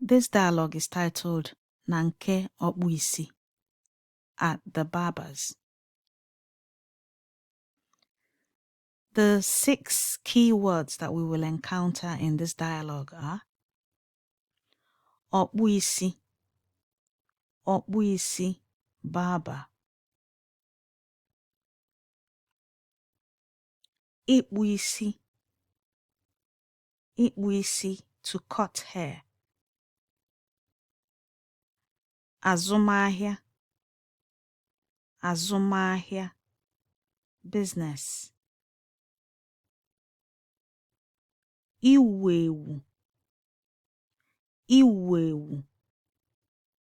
This dialogue is titled Na nke ọkpụ isi at the barber's. The six key words that we will encounter in this dialogue are ọkpụ isi, ọkpụ isi, barber. ịkpụ isi, ịkpụ isi to cut hair azụmahịa azụmahịa business iwu ewu iwu ewu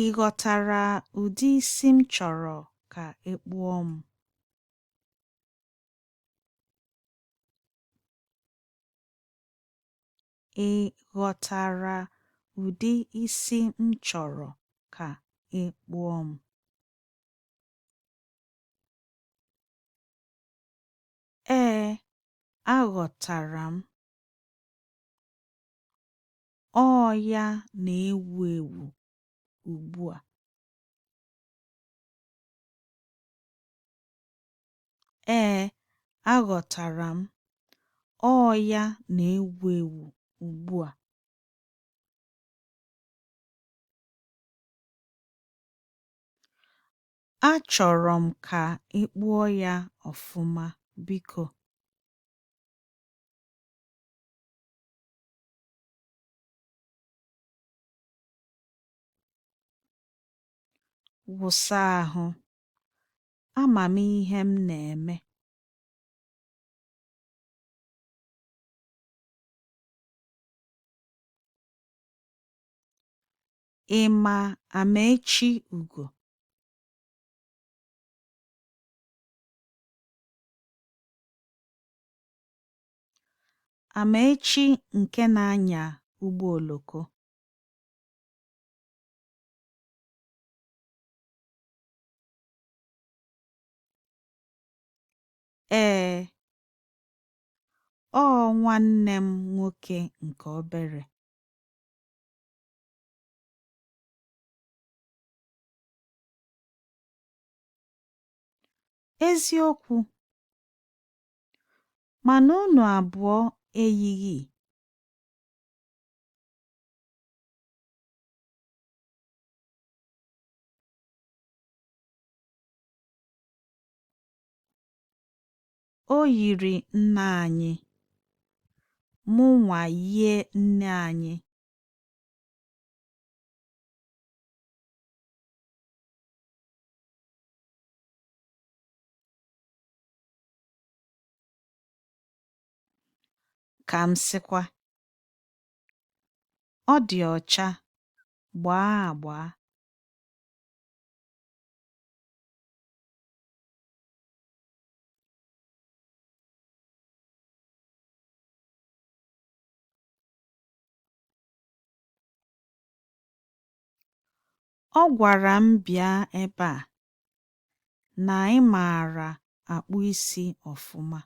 Ị ghọtara ụdị isi m chọrọ ka e kpụọ m? Ị ghọtara ụdị isi m chọrọ ka e kpụọ m? Ee, aghọtara m. Ọ ya na-ewu ewu ugbu a. Ee, aghọtara m. Ọ ya na-ewu ewu ugbu a. Achọrọ m ka ị kpụọ ya ọfụma, biko. wụsa ahụ ama m ihe m na-eme ị ma Amaechi Ugo Amaechi nke na-anya ụgbọ oloko. Ee, ọ nwanne m nwoke nke obere. Eziokwu, Mana unu abụọ eyighị. O yiri nna anyị. Mụnwa yie nne anyị. ka m sịkwa ọ dị ọcha gbaa agba Ọ gwara m bịa ebe a na ị maara akpụ isi ọfụma.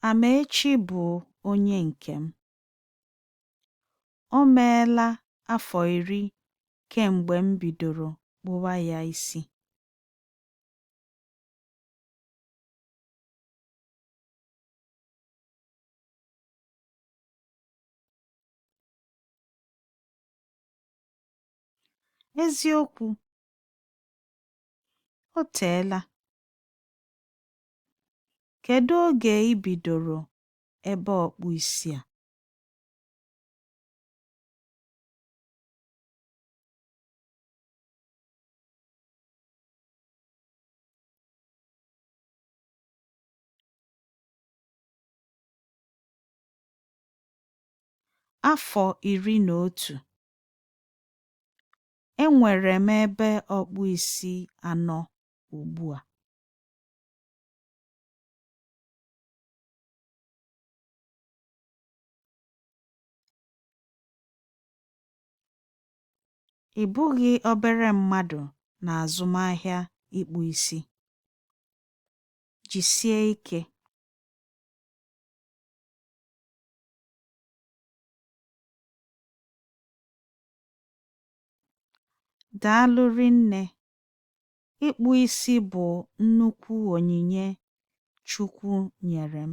Amaechi bụ onye nke m. O meela afọ iri kemgbe m bidoro kpụwa ya isi. Eziokwu, o teela. Kedu oge i bidoro ebe ọkpụ isi a? Afọ iri na otu. Enwere m ebe ọkpụ isi anọ ugbu a. Ị bụghị obere mmadụ n'azụmahịa ịkpụ isi. Jisie ike. Daalụ rinne. Ịkpụ isi bụ nnukwu onyinye Chukwu nyere m.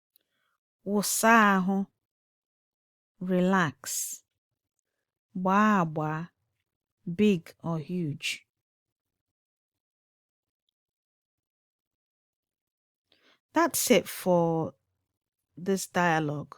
wụsa ahụ, relax, gbaa agba, big or huge. That's it for this dialogue.